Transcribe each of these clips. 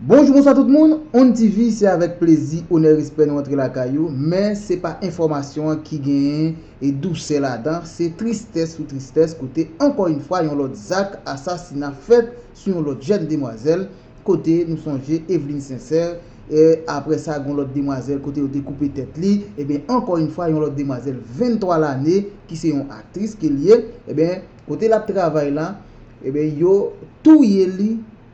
Bonjou bonswa tout moun, Onn TV se avèk plezi, onè respè nou antre lakay ou, men se pa enfòmasyon an ki gen e dousè ladan, se tristès sou tristès kote ankò yn fwa yon lòt zak asasina fèt sou yon lòt jèn demwazèl kote nou sonje Eveline Sincère e aprè sa gon lòt demwazèl kote yo te koupe tèt li eben ankò yn fwa yon lòt demwazèl 23 lane ki se yon aktris ke li ye eben kote lap travay la eben yo touye li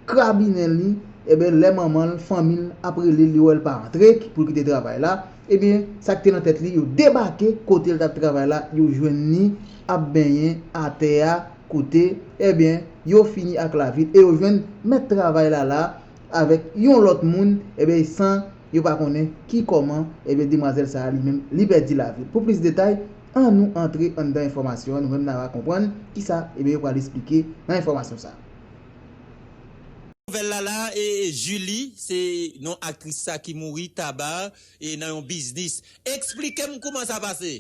krabinen li eben lè manman l fanmi l ap rele l yo wè l pa antre pou l kite travay la eben sak te nan tèt li yo debake kote l tap travay la yo jwenn li ap benyen atè a. koute, ebyen, yo fini ak lavi l e yo jwenn mèt travay la la avèk yon lòt moun, ebyen, san yo pa konnen ki kòman, ebyen, demwazèl sa a li menm, li pèdi lavi l. Pou plis detay, annou antre anndan enfòmasyon an, nou menm n ava konprann ki sa, ebyen, yo pral esplike nan enfòmasyon sa a. Nouvèl la la e Julie se non aktris sa ki mouri taba e nan yon biznis. Eksplike m kouman sa pase?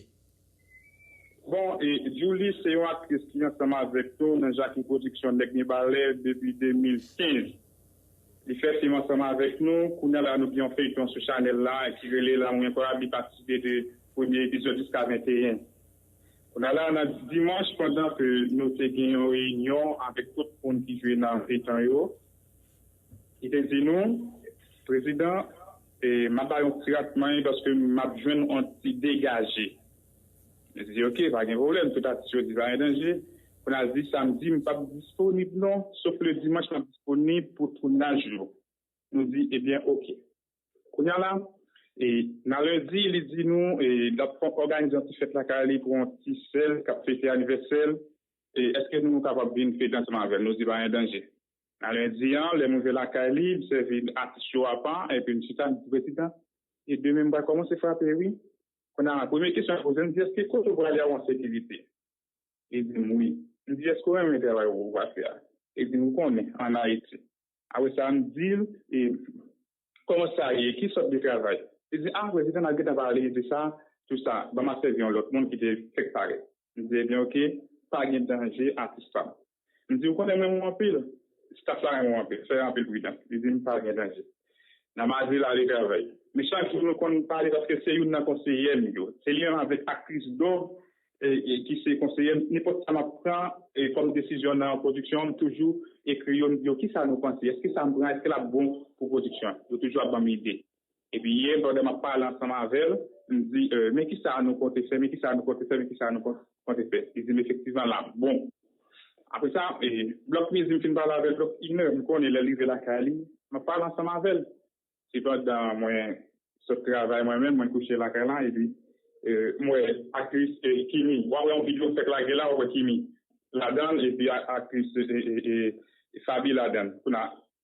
Bon e Djoulie se yon aktris ki ansanm avèk nou nan Jackie Production Nèg Mibalè depi 2015. Li fè fim ansanm avèk nou. Kounya la nou gen yon feyton sou chanèl la ki rele Lanmou Enkoyab li patisipe de premye epizòd jiska 21. Kounya la nan dimanch pandan ke nou te gen yon reyinyon avèk tout moun ki jwe nan feyton yo. Li te di nou, Prezidan, m ap ba yon ti rat manje paske m ap jwenn yon ti degaje. Li te di, Oke, pa gen pwoblèm, tout atis yo di pa gen danje. Tounaj, Samdi m p ap disponib non, sof le dimanch m ap disponib pou tounaj yo. Nou di, Ebyen oke. Kounye a la, nan lendi, li di nou l ap òganize yon ti fèt lakay li pou yon ti sè l k ap fete anivèsè l. Èske nou kapab vin fete ansanm avè l? Nou di, Pa gen danje. Nan lendi an, lè m rive lakay li, m sèvi atis yo apa epi m chita, m di, Prezidan, e demen m pral kòmanse frape wi. Kounye a, premye kesyon l poze m di, Èske kote w prale a ou an sekirite? Li di m wi. M di, Èske w renmen travay ou va fè a? Li di m, Ou konnen, ann Ayiti. Apre sa, m di l, E kòman sa ye? Ki sòt de travay? Li di, A, Prezidan, n ap gentan pale de sa, tout sa. Ban m a sèvi yon lòt moun ki te fèk parèt. M di, Ebyen, oke, pa gen danje atis pa m. M di, Ou konnen m renmen w anpil. Staf la renmen w anpil. Fè anpil pridan. Li di m, Pa gen danje. N a madi l ale travay. Men chak jou nou konn pale paske se youn nan konseyè m yo. Se li menm avèk aktris Do ki se konseyè m. Nenpòt sa m ap pran kòm desizyon nan pwodiksyon an, m toujou ekri yo, m di yo, Kisa nou panse? Èske sa m pran, èske l ap bon pou pwodiksyon an? Yo toujou ap ban m ide. Epi yè, pandan m ap pale ansanm avè l, m di, Men ki sa nou konte fè, men ki sa nou konte fè, men ki sa nou konte fè. Li di m, Efektivman, l ap bon. Apre sa, blòk midi, m fin pale avè l, blòk inè, m konnen lè l rive lakay li, m ap pale ansanm avè l. Se pandan mwen sot travay mwen menm, mwen kouche lakay la, epi m wè aktris Kimi. W ap wè yon videyo m fèk lage la, w ap wè Kimi ladan l, epi aktris Faby ladan l. Kounye a,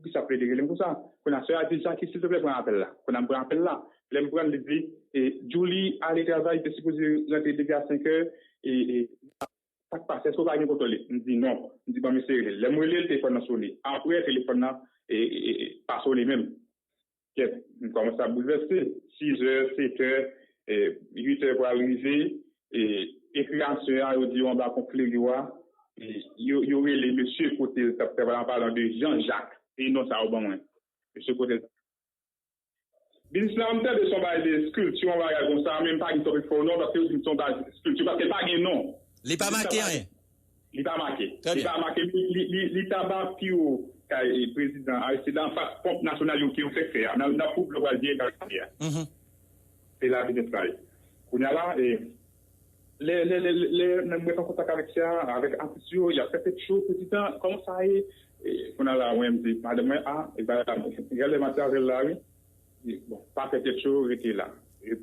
Poukisa plede rele m konsa? Konnya sè a di Jaki silteplè pran apèl la. Konnya m pran apèl la. Lè m pran l li di, Djoulie ale travay li te sipoze rantre depi a senkè e sa k pase èske ou pa gen kontòl li? M di non. M di ban m eseye rele l. Lè m rele l telefòn nan sone. Aprè telefòn nan pa sone menm. Kèt, m kòmanse ap boulvèse. Sizè, setè, uitè pral rive, e kreyasyon an yo di yo anba pon Kleriw a, yo rele mesye kote l t ap travay, an palan de Jan Jak, e non sa yo ban mwen. Mesye kote l. Biznis la, m tande son bagay de skilti, yon bagay konsa, men m pa gen twòp enfo non, paske yo di m son baz skilti, paske l pa gen non. Li pa make anyen. Li pa make. Trè byen. Li pa make. Li taba pi wo kay prezidan Aristide la anfas ponp nasyonal yo ke yo fèk fè a nan nan koub yo pral vire kay Samet a. Se la biznis la ye. Kounye a la, lè lè lè lè mwen mwen te an kontak avèk sè a, avèk atis yo, y ap fè tèt cho, prezidan, kòman sa ye? Kounye a la mwen di madanm mwen, a, e bagay la, gade lè m ap di avè l la wi, Bon, pa fè tèt cho, rete la.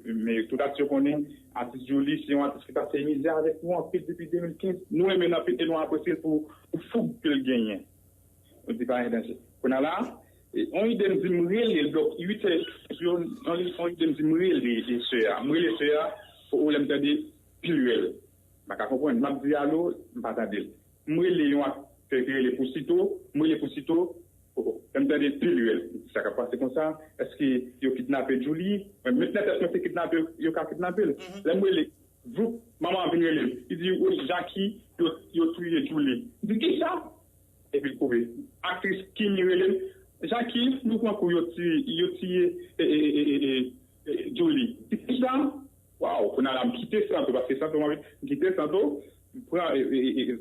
Men tout atis yo konnen, atis Jooly se yon atis ki pase mizè avèk nou anpil depi 2015. Nou renmen l anpil e nou apresye l pou foug ke l genyen. Nou di pa gen danje. Kounye a la, yon ide m di m rele l, donk 8 è et yo, yon ide m di m rele sè a. M rele sè a, pou ou lè m tande pilrèl. M pa ka konprann. M ap di alo, m pa tande l. M rele yon aktè ki rele pou sito, m rele pou sito oh oh lè m tande pil rèl m di sa k ap pase konsa èske yo kidnape Djouly mwen met nan tèt mwen se kidnape yo ka kidnape l lè m rele voup manman an vin rele m li di woy Jaki yo touye Djouly m di kisa epi l kouri aktris Kimi rele m Jaki nou pran kou yo tiye Djouly kisa waw kounya la m kite santo paske santo m kite santo. M pran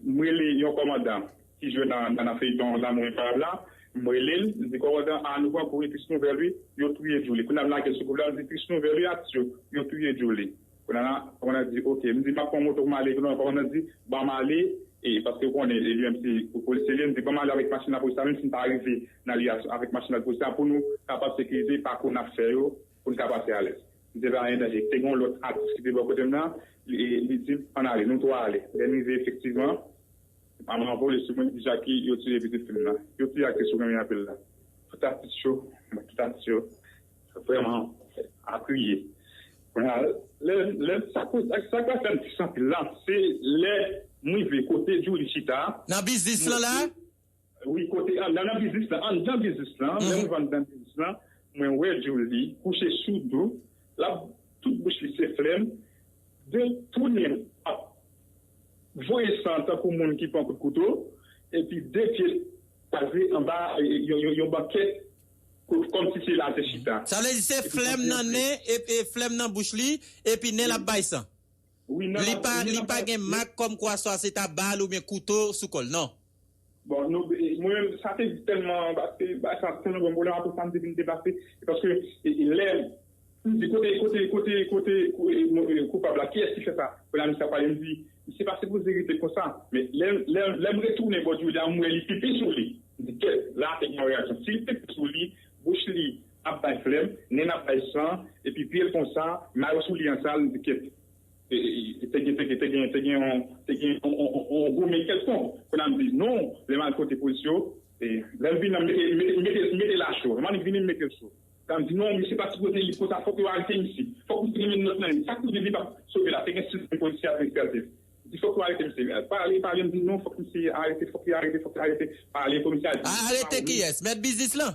m rele yon kòmandan ki jwe nan feyton lanmou enpayab la m rele l m di kòmandan a nou pran kou wi tris nouvèl wi yo touye djouly kounye a m lage soukoup la m di tris nouvèl wi atis yo yo touye djouly kounye a la kòmandan di ok m di m ap pran moto pou m ale kounye a kòmandan di banm ale e paske ou konnen li menm se polisye li ye m di banm ale avèk machin lapolis la menm si n pa rive nan lye a avèk machin lapolis la pou nou kapab sekirize pakou n ap fè yo. pou n ka pase alèz. M te ba endanje. Te gen yon lòt atis ki te bò kote m nan, li di m, Ann ale. Nou twa ale. Lè n rive, efektivman, Mama an vole sou mwen, li di, Jaki, yo tiye pitit fi m nan. Yo tiye aktris ou renmen anpil la. Tout atis yo, tout atis yo vrèman ap kriye. Kounye a, lè m, lè m, sa koz, sa k ap fè m tris anpil la, se lè m rive kote Djoulie chita a. Nan biznis lan la a? Wi kote an nan nan biznis lan anndan biznis lan lè m vann nan biznis lan mwen wè Djoulie kouche sou do lap tout bouch li se flèm de tounen l ap voye san tankou moun ki pran kout kouto epi de pye l kwaze anba yon bankèt kòmsi se la l te chita. Sa vle di se flèm nan nen epi flèm nan bouch li epi nen l ap bay san li pa gen mak kòmkwa swa se ta bal oubyen kouto sou kò l non. Bon, nou, mwen menm, sa te tèlman, paske bagay sa tèlman bon, mwen apre sa m te vin deplase, se paske lè m di kote, kote, kote, kote koupab la, kiyès ki fè sa, apre la misye ap pale, m di, misye pa sipoze rete konsa, men lè m retounen bò Djoulia m wè li pipi sou li, m di kèt, la te gen yon reyaksyon, si li pipi sou li, bouch li ap bay flèm, nen l ap bay san, epi pye l konsa, mayo sou li an sal, m di kèt. Te gen te gen te gen yon te gen yon gwo men kèlkonk. Kounye a m di non, lè m al pote polis yo, lè m vini la m mete m mete m mete l a cho. Lè m annik vini m mete l cho. Kounye a m di non misye pa sipoze li konsa fòk yo arete misye. Fòk misye gen menm nòt nan li. Sa k pou di li pa p sove la? Te gen sis menm polisye ap espèlte l. M di fòk yo arete misye. L pale pale m di non fòk misye arete fòk li arete fòk li arete. Pale komisè a di non se pa ou menm. Arete kiyès? Mèt biznis lan?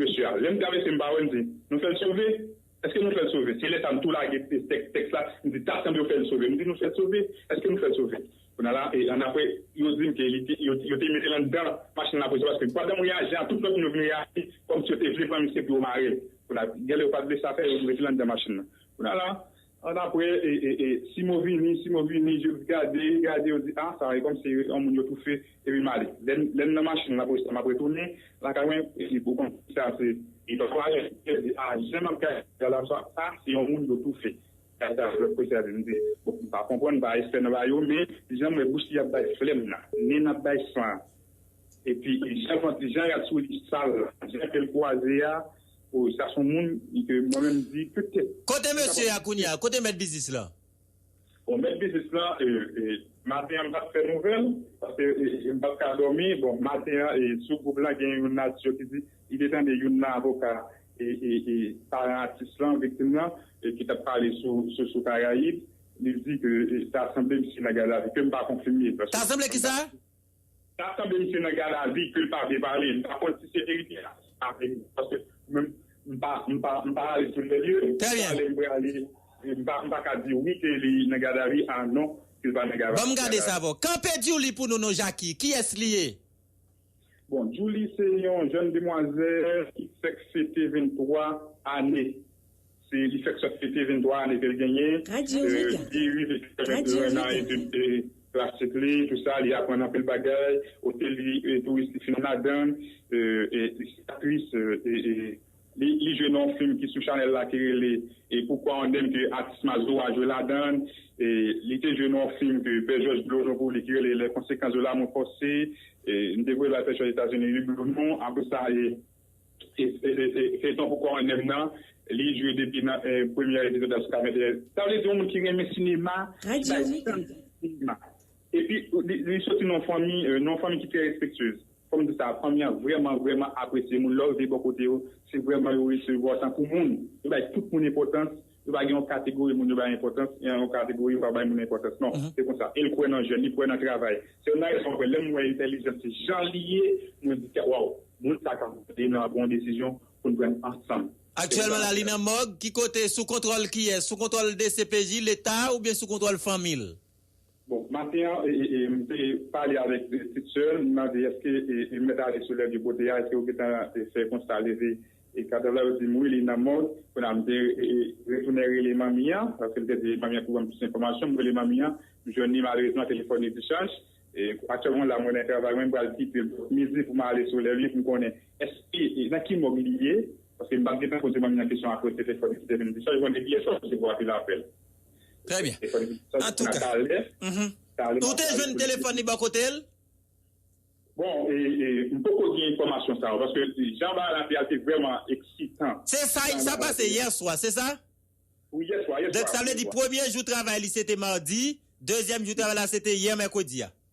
Mesye a. Lè m travèse m pa wè, m di, Nou fè l sove? Èske nou fè l sove? Se lè sa a m tou lage tèks la, m di, Ta sanble yo fè l sove. M di, Nou fè l sove? Èske nou fè l sove? Kounye a la, e annapre, yo di m ke li te, yo te mete l anndan machin lapolis la paske pandan mwen ye ajan an, tout lòt moun yo vin reyaji kòmsi yo te vle pran misye pou yo mare l. Kounye a, gen lè yo pa t vle sa fè, yo mete l anndan machin nan. Kounye a la. Annapre, Simo vini, Simo vini, je l gade, gade, yo di, a, sa e kòmsi yon moun yo toufe, epi m ale. Lè m nan machin la pou estan m ap retounen lakay mwen, epi pou konn ki sa se, e pa fwa yo te di, a, jan m ap gade la la, sa a se yon moun yo toufe. Kay sa lòt polisye a di, m di, bon, m pa konprann, m pa espè nan ba yo, men jan m wè bouch li ap bay flèm nan, nen ap bay san an, epi jan jan rad sou li sal la, jan ke l kwaze a, Oh sa son moun ke mwen menm di petèt. Kote mesye a kounya, kote mèt biznis lan? Bon mèt biznis lan maten an m pat fè nouvèl paske m pat ka dòmi bon maten an sou gwoup lan gen yon natyo ki di li te tande youn nan avoka paran atis lan viktim lan ki tap pale sou karayib li di ke ta sanble misye nan gadavi ke m pa konfime. Ta sanble kisa? Ta sanble misye nan gadavi ke l pa vle pale. M pa konn si se verite a. Paske mwen m pa ale sou lè lye. Trè byen. Pale m prale. M pa ka di wi ke li nan gadavi a non ke l pa nan gadavi. Ban m gade sa avè w. Kanpe Djoulie pou nou non Jacki. Kiyès li ye? Bon Djoulie se yon jèn demwazè ki fèk fete 23 ane. Se li fèk sot fete 23 ane ke l genyen. Li di li rive konnèt lwen nan etid klasik li, tout sa, li aprann anpil bagay, ote li touris li fin madanm, e li se aktris, li jwe nan yon fim ki sou chanèl la ki rele Pourquoi on aime ke atis Mazora jwe ladan l, li te jwe nan yon fim ke Pè Jòj ble odon pou li ki rele Les conséquences de l'amour forcé, m te voye l al fè cho Etazini wi Blondon, apre sa. Feyton pou kò annèm nan li jwe depi nan premyè epizòd la sou 41 sa vle di yon moun ki renmen sinema ki bay tan li pou sinema epi li soti nan yon fanmi nan yon fanmi ki trè respektyez fòm di sa fanmi an vrèman vrèman apresye moun lè w rive bò kote yo se vrèman yo resevwa w tankou moun yo bay tout moun enpòtans. Yo pa gen yon kategori moun yo bay enpòtans e yon kategori yo pa bay moun enpòtans non. Se konsa. E l kwè nan jèn, li kwè nan travay. Se youn nan rezon mwen kwè lè m wè entèlijans li jan li ye, mwen di tèt waww, moun sa ka ede n nan yon bon desizyon pou n pran ansanm. Aktyèlman la li nan mòg, ki kote, sou kontwòl kiyès, sou kontwòl dcpj, leta oubyen sou kontwòl fanmi l? Bon maten an m te pale avèk pitit sè l, m mande èske mèt ale sou lè de kote a, èske yo gentan fè konsta leve kadav la, yo di m wi li nan mòg, kounye a m te retounen rele manmi an, paske m te di manmi an pou ban m plis enfòmasyon, m rele manmi an m jwenn li malerezman telefòn li dichaj, aktyèlman la mwen nan travay mwen m pral kite bò midi pou m ale sou lè li pou m konnen èske nan ki mòg li ye, paske m pa t gentan poze manmi an kesyon aprè telefòn li ki te vin dichaj, m konnen pyès wap resevwa anpil apèl. Trè byen. An tou ka. Ou te jwenn telefòn li bò kote l? Bon, m poko gen enfòmasyon sa yo paske jan bagay la te al te vrèman eksitan. Se sa y sa pase yè swa, se sa? Wi, yè swa, yè swa. Donk sa vle di premye jou travay li se te madi, dezyèm jou travay la se te yè mèkredi a?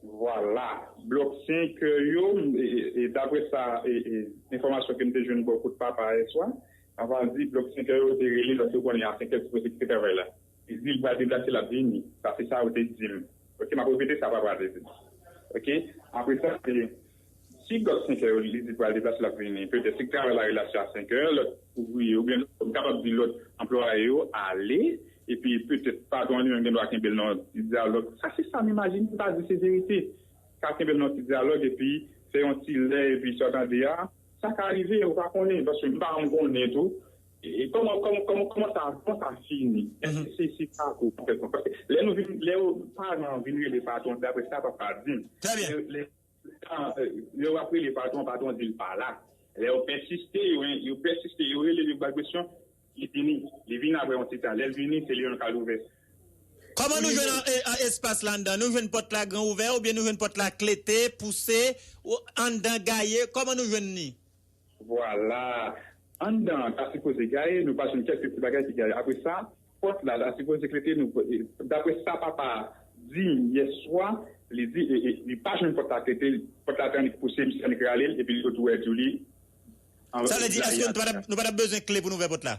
Vwala, blòk sen kè yo, dapre sa enfòmasyon ke m te jwenn bò kot papa yè swa, papa a di blòk sen kè yo te rele l paske yo konnen a senkè yo sipoze kite travay la. Li di l pral deplase l ap vini. Sa se sa yo te di m. Ok, m ap repete sa papa a te di m. Ok, apre sa. Si lòt 5 è yo li di pral deplase l ap vini, petèt si l travay lari la se a 5 è, lòt ouvriye yo oubyen m kapab di lòt anplwaye yo ale epi petèt patwon an li menm gen dwa kenbe l nan yon ti dyalòg, sa se sa m imajine, m pa di se verite, ka kenbe l nan yon ti dyalòg epi fè yon ti lè epi sa w tande a, sa ka rive ou pa konnen paske m pa janm konnen tou e kòman kòman sa kòman sa fini, èske se sa tou paske lè nou vin lè paran an vin rele patwon se apre sa papa di m. Lè wap rele patwon, patwon di l pa la. Lè yo pèsiste, yo pèsiste, yo rele l, yo ba l presyon, li vini. Li vini aprè yon ti tan. Lè l vini, se li menm kal ouvè. Kòman nou jwenn espas la anndan? Nou jwenn pòt la gran ouvè oubyen nou jwenn pòt la klete, pouse, anndan gaye? Kòman nou jwenn li? Vwala! Anndan an ta sipoze gaye, nou pa jwenn kèlke ti bagay ki gaye. Apre sa, pòt la ta sipoze klete, nou pa, dapre sa papa a di m yè swa, li di li pa jwenn pòt la klete, pòt la te annik pouse, misye annik rale l epi li ret ouvèti li an blayi a tè a. Sa vle di, èske nou pa t ap bezwen kle pou nou ouvè pòt la?